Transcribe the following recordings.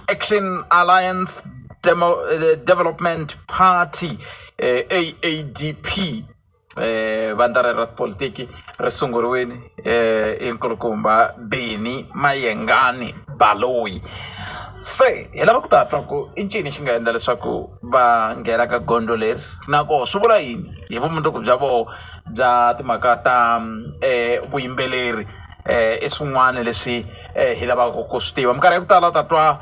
Action Alliance Demo, eh, Development Party eh, AADP eh, vandla rero ra tipolitiki ri sunguriwini eh, hi nkulukumba Beni Mayengani Baloyi se hi lava ku ta twa ku i ncini xi nga endla leswaku va nghena ka gondzo leri na koho swi vula yini hi vumundzuku bya voho bya timhaka ta um vuyimbeleri i swin'wana leswi hi lavaka ku swi tiva minkarhi ya ku tala u ta twa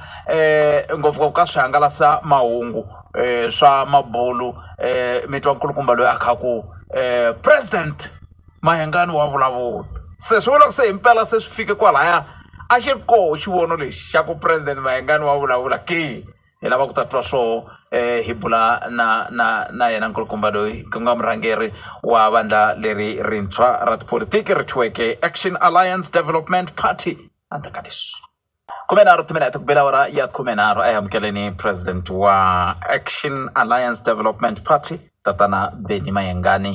ngopfungopfu ka swihangalasamahungu swa mabulu mi twa nkulukumba loyi a kha ku president Mayengani wa vulavula se swi vula ku se hi mpela se swi fike kwalaya a xi ri koho xivono lexi xa ku president Mayengani wa vulavula ke. hi lava ku ta twa swoho hi bula na na na yena nkulukumba loyi ku nga murhangeri wa vandla leri rintshwa ra tipolotiki ri thyiweke action alliance development party handle ka leswi khumenharhu timinete ku bela awara ya khumenharhu a yi amukeleni president wa action alliance development party tatana beni mayengani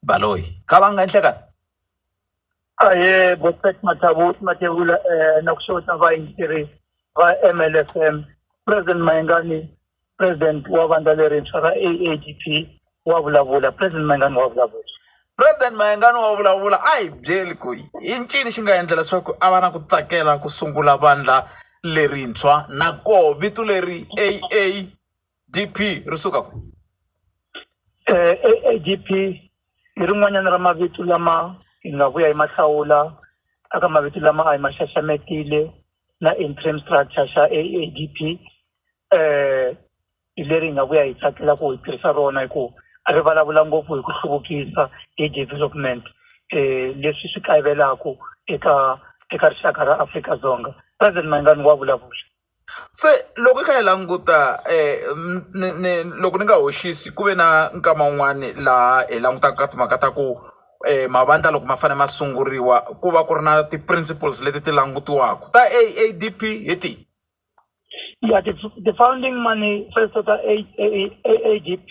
baloyi kha va nga enhlekani Ahee Boset Mathabuti Matebula eh na ku xota va yingiseri va MLFM President Mayengani President wa vandla lerintshwa ra AADP wa vulavula President Mayengani wa vulavula President Mayengani wa vulavula a hi byeli ku i ncini xi nga endla leswaku a va na ku tsakela ku sungula vandla lerintshwa na koho vito leri AA DP ri suka ku? ADP i rin'wanyana ra mavito lama hi nga vuya hi ma hlawula a ka mavito lama a hi ma xaxametile na interim structure xa ADP hi leri hi nga vuya hi tsakela ku hi tirhisa rona hi ku a ri vulavula ngopfu hi ku hluvukisa hi development leswi swi kayivelaku eka eka rixaka ra Afrika-Dzonga President Mayengani wa vulavula. Se loko hi kha hi languta ni ni loko ni nga hoxisi ku ve na nkama wun'wani laha hi langutaka ka timhaka ta ku mavandla loko ma fanele ma sunguriwa ku va ku ri na ti-principles leti ti langutiwaka ta A_A_D_P hi tihi ya ti-founding money A_A_D_P.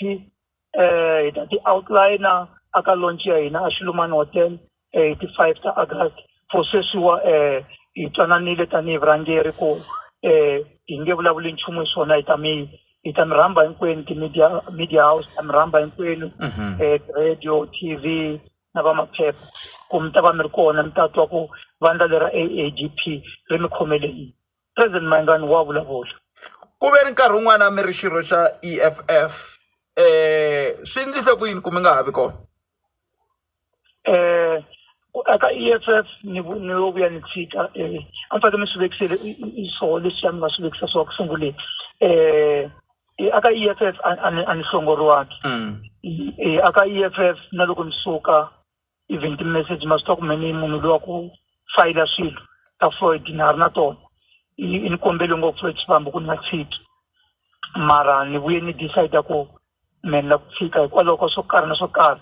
eh hi ta ti outliner a ka launch ya hina a Xilumani Hotel eh, hi ti five ta August for sweswiwa eh hi twananile tanihi vurhangeri ku eh hi nge vulavuli nchumu hi swona hi ta mi hi ta mi rhamba hinkwenu ti-media media house ta mi rhamba hinkwenu Mhm. eh radio tv na va maphepha ku mi ta va mi ri kona mi ta twa ku vandla lera aadp ri mi khomele yini President Mayengani wa vulavula. Ku ve ni nkarhi wun'wana mi ri xirho xa EFF um swi endlise ku yini ku mi nga ha vi kona Eh, ku aka EFF ni vu- ni yo vuya ni tshika eh, a ni fanekele ni swi vekisele i- i- i swoho leswiya ni nga swi vekisa swoho ku sunguleni um aka EFF a- a ni- a ni hlongoriwangi um aka EFF na loko ni suka even ti-message ma swi tiva ku me ni munhu luya ku fayila swilo ta Floyd na ha ri na tona ni kombele ngopfu Floyd Shivambu ku ni nga tshiki mara ni vuye ni decide ku me ni la ku tshika hikwalaho ka swo karhi na swo karhi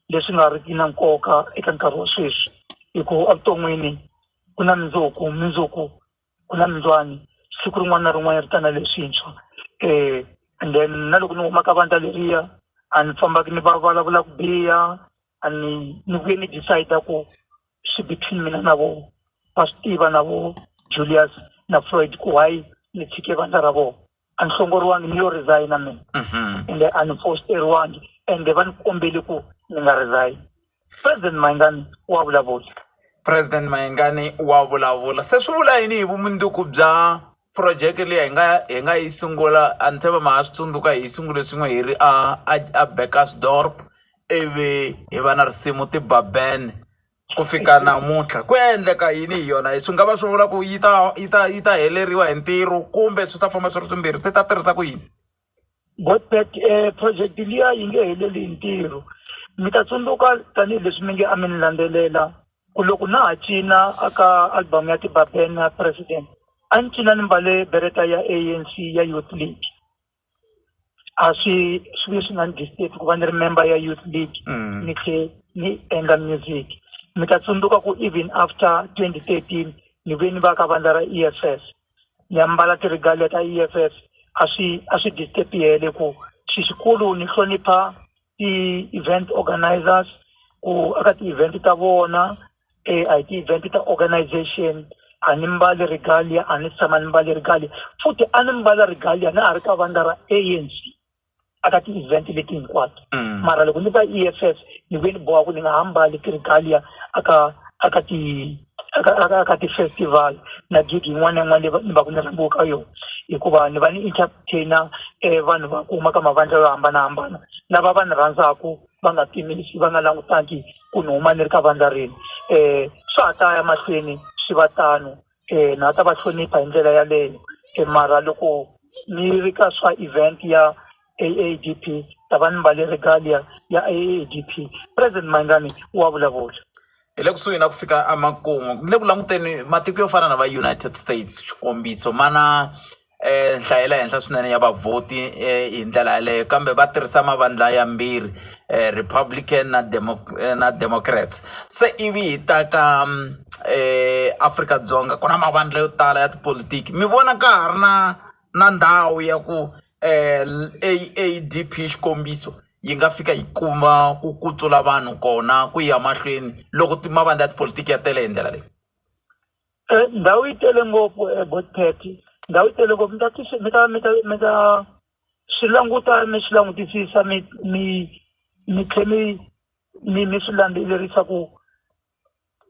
leswi nga riki na nkoka eka nkarhi wa sweswi hi ku evuton'wini ku na mundzuku mundzuku ku na mundzuwani siku rin'wana na rin'wanyana ri ta na leswintshwa and then na loko ni huma ka vandla leriya a ni fambaka ni va vulavula ku biha a ni ni vuye ni decide ku swi between mina na vo va swi tiva na vo Julius na Floyd ku why ni tshike vandla ra vona a ni hlongoriwangi ni yo resigna mina mhm. ende a ni fosteriwangi ende va ni kombele ku ni nga resign president mayingani wa vulavula president mayingani wa vulavula se swi vula yini hi vumundzuku bya phurojeke leyi hi nga hi nga yi sungula a ni tshemba ma ha swi tsundzuka hi sungule swin'we hi ri a a a bakersdorp Ivi hi va na risimu ti ba ban ku fika namuntlha ku ya endleka yini hi yona swi nga va swi vula ku yi ta yi ta yi ta heleriwa hi ntirho kumbe swi ta famba swi ri swimbirhi ti ta tirhisa ku yini got back um project liya yi nge heleli hi ntirho mi ta tsundzuka tanihileswi mi nge a mi ni landzelela ku loko na ha cina a ka album ya tibaben na president a ni cina ni mbale bereta ya A_N_C ya youth league a swi swi leswi nga ni disturb ku va ni ri member ya youth league Mm. ni tlhe ni endla music mi ta tsundzuka ku even after 2013 ni ve ni va ka vandla ra e f f ni ya mbala ti-regalia ta e f f a swi a swi disturb yele ku xi xikulu ni hlonipha ti-event organisers ku aka ti-event ta vona e a hi ti-event ta organization a ni mbali regalia a ni si tshama ni mbale regalia futhi a ni mbala regalia na ha ri ka vandla ra anc a ka ti-event leti hinkwato mara loko ni va e f f ni vuye ni boha ku ni nga ha mbali ti-regalia a ka a ka ti a ka a ka a ka ti-festival na gig yin'wana na yin'wana leyi va ni va ku ni rhambiwe ka yona hikuva ni va ni entertain-a vanhu va ku huma ka mavandla yo hambanahambana lava va ni rhandzaku. va nga pimisi va nga langutangi ku ni huma ni ri ka vandla rini um swa ha ta ya mahlweni swi va tano um na ha ta va hlonipha hi ndlela yaleyo um mara loko ni ri ka swa event ya AADP ta va ni mbale regalia ya AADP president Mayengani wa vulavula. Hi le kusuhi na ku fika emakumu ni le ku languteni matiko yo fana na va United States xikombiso ma na. nhlayo ya le henhla swinene ya vavhoti hi ndlela yaleyo kambe va tirhisa mavandla ya mbirhi Republican na na Democrats se ivi hi ta ka Afrika-Dzonga ku na mavandla yo tala ya tipolotiki mi vona ka ha ri na na ndhawu ya ku A_A_D_P xikombiso yi nga fika yi kuma ku kutsula vanhu kona ku ya mahlweni loko mavandla ya tipolotiki ya tele hi ndlela leyi. Eh, ndhawu yi tele ngopfu eh, botipeti ndhawu yi tele ngopfu mi ta tisi mi ta mi ta mi ta swi languta mi swi langutisisa mi mi mi tlhe mi mi mi swi landzelerisa ku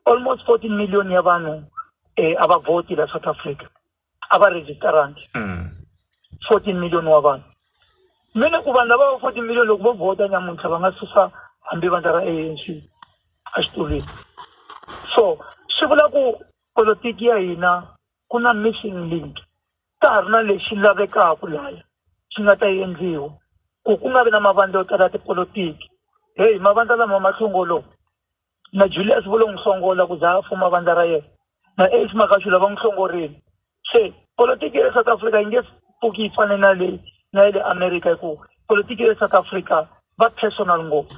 almost fourteen million ya vanhu um a va vhoti la south africa a va registarangi mm. 14 million wa vanhu mi ni ku vanhu lava va 14 million loko vo vhota nyamuntlha va nga susa hambi vandla ra anc exitulwini so swi vula ku politiki ya hina ku na missing link ka ha ri na lexi lavekaka laya xi nga ta endliwa ku ku nga vi na mavandla yo tala ya tipolotiki heyi mavandla lama mahlongolowo Na Juliasi vo lo n'wi hlongola ku za a fuma vandla ra yena, na Ace Magashula va n'wi hlongorile. Se, politiki ya le South Africa yi nge pfuki yi fane na leyi na ya le America hi ku politiki ya le South Africa va personal ngopfu.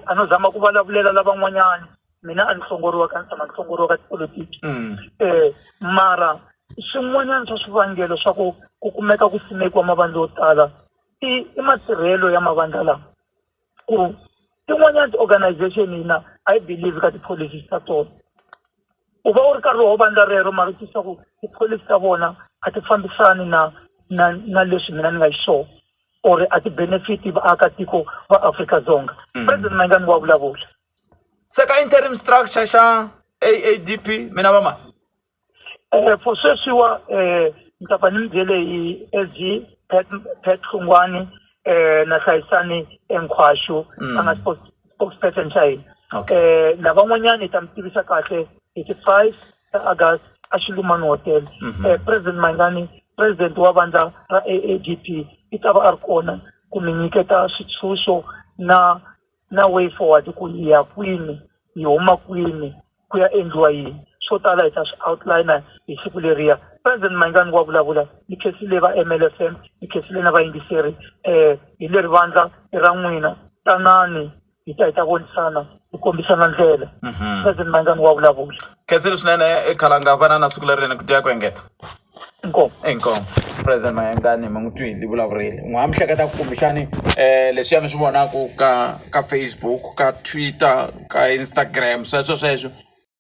A no zama ku valavulela lavan'wanyani, mina a ni hlongoriwa ka ni tshama ni hlongoriwa ka tipolitiki. Mara swin'wanyani swa swivangelo swa ku ku kumeka ku simekiwa mavandla yo tala i i matirhelo ya mavandla lawa. ku tin'wanyana ti-organization hina a yi believe ka ti-policies ta tona u va u ri karhi wo vandla rero mara u twisisa ku tipholisi ta vona a ti fambisani na na na leswi mina ni nga xiswona or a ti-benefit vaakatiko va Afrika-Dzonga president Mayengani wa vulavula se ka interim structure xa AADP mina va ma. Eh, for sweswiwa eh, ni ta pfa ni mi byele hi SG Pat Pat Hlungwani eh, na hlayisani enkhwaxu a nga spokes- spokesperson xa hina Okay. eh, lavan'wanyana hi ta mi tivisa kahle hi ti five ta august a xilumani hotel eh, president mayingani president wa vandla ra aadp i ta va a ri kona ku mi nyiketa switshunxo na na way forward ku hi ya kwini hi huma kwini ku ya endliwa yini swo tala hi ta swi outliner hi siku leriya president Mayengani wa vulavula ni khesi leyi va MLFM ni khesi leyi na vayingiseri um hi leri vandla i ra n'wina tanani hi ta hi ta vonisana hi kombisana ndlela president Mayengani wa vulavula. Khensile swinene Khalanga vanana siku lerinene ku tiya ku engeta. inkomu inkomu president mayengani ma n'wi twile vulavurile n'wi ha mi hleketa ku kumbexani um leswiya mi swi vonaka ka ka facebook ka twitter ka instagram sweswo sweswo